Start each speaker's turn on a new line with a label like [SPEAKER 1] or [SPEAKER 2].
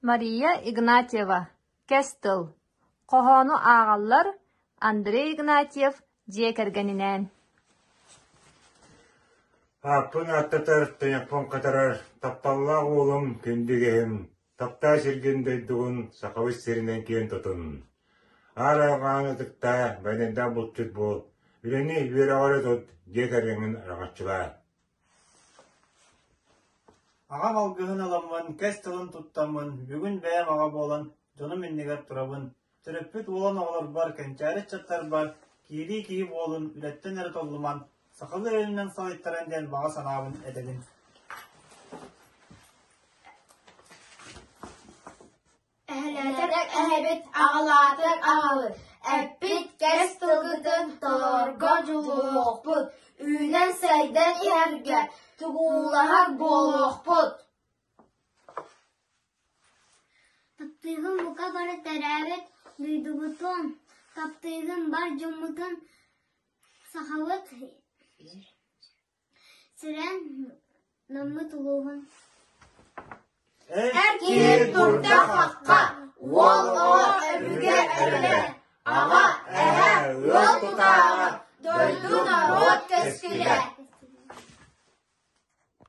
[SPEAKER 1] Мария Игнатьева Кэс тыл хоһоону ааҕаллар Андрей Игнатьев дьиэ кэргэнинээн Ааппын ааттатар, телефон катарар тапталлаах уолум, күндү иһим Таптаа сиргин-дойдугун, Сахабыт сиринэн киэн-тутун! Аар алҕаан ытыктаа, байанайдаах булчут буол, үлэни, үөрэҕи тут, дьиэ кэргэҥҥин араҥаччылаа. Аҕам алгыһын аламмын, кэс тылын туттаммын, бүгүн бэйэм аҕа буолан, дьонум иннигэр турабын, Төрөппүт уолун оҕолорбор, кэнчээри ыччаттарбар киирии киһи буолун үлэттэн эрэ толлуман, сахалыы өйүнэн салайтаран диэн баҕа санаабын этэбин. Эһэлээтик эһэбит аҕалаатык аҕалыр, эппит кэс тылгытын толорго дьулуохпут, үүнэн сайдан иһэргэ тугуулаһар буолуохпут. Таптыыгым бука бары төрөөбүт дойдубутун, таптыырым бар дьоммутун сахабыт сирин, наммыт улууһун Эккир турдаххахха, уол оҕо өбүгэ эбилэ, аҕа эһэ ыал тутааҕа, дойду норуот кэскилэ.